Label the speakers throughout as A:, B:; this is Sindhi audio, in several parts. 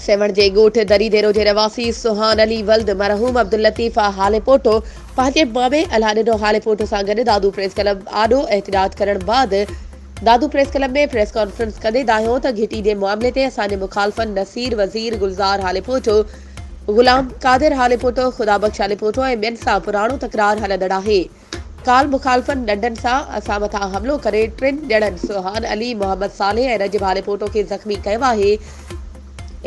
A: سيوهڻ جي ڳوٺ دري ديرو جي رهواسي سهان علي ولد مرحوم عبداللطيف هاليپوٽو پنهنجي مامي الهڏنو هاليپوٽو سان گڏ دادو پريس ڪلب آڏو احتجاج ڪرڻ بعد Dadu press club ۾ press conference ڪندي دانهيو ته گهٽي جي معاملي تي اسان جي مخالفن نصير وزير گلزار هاليپوٽو غلام قادر هاليپوٽو، خدا بخش هاليپوٽو ۽ ٻين سان پراڻو تڪرار هلندڙ آهي. ڪالهه مخالفن ڏنڊن سان اسان مٿان حملو ڪري ٽن ڄڻن سوهان علي، محمد صالح ۽ رجب هاليپوٽو کي زخمي ڪيو آهي.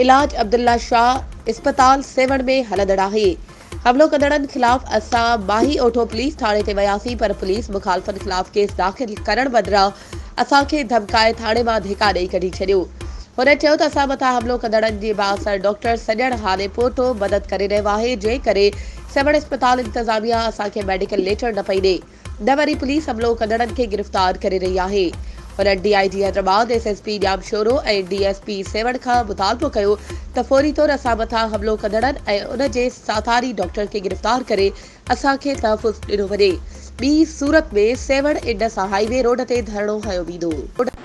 A: علاج عبدالله شاهه اسپتال سيوهڻ ۾ هلندڙ آهي. حملو ڪندڙن خلاف اسان ماهي اوٺو پوليس ٿاڻي تي وياسين پر پوليس مخالفن خلاف ڪيس داخل ڪرڻ بدران اسان کي ڌمڪائي ٿاڻي مان ڌڪا ڏئي ڪڍي ڇڏيو. هن چيو ته اسان مٿان حملو ڪندڙن جي بااثر ڊاڪٽر سڄڻ هاڻي پوٽو مدد ڪري رهيو آهي جنهن ڪري سيوهڻ اسپتال انتظاميا اسان کي ميڊيڪل ليٽر نه پئي ڏي نه وري پوليس حملو ڪندڙن کي گرفتار ڪري رهي آهي هنن D I G Hyderabad S S P Jamshoro ۽ D S P Sehwan کان مطالبو ڪيو ته فوري طور اسان مٿان حملو ڪندڙن ۽ ان جي ساٿاري ڊاڪٽر کي گرفتار ڪري اسان کي تحفظ ڏنو وڃي. ٻي صورت ۾ Sehwan Indus highway road تي ڌرڻو هنيو ويندو.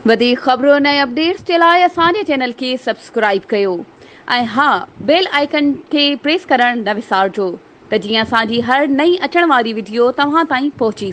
A: وڌيڪ خبرن ۽ اپڊيٽس جي لاء اسان جي چينل کي سبسڪرائيب ڪيو ۽ ها بيل آئيڪن کي پريس ڪرڻ نه وسارجو ته جيئن اسان جي هر نئين اچڻ واري وڊيو توهان تائين پهچي سگهي.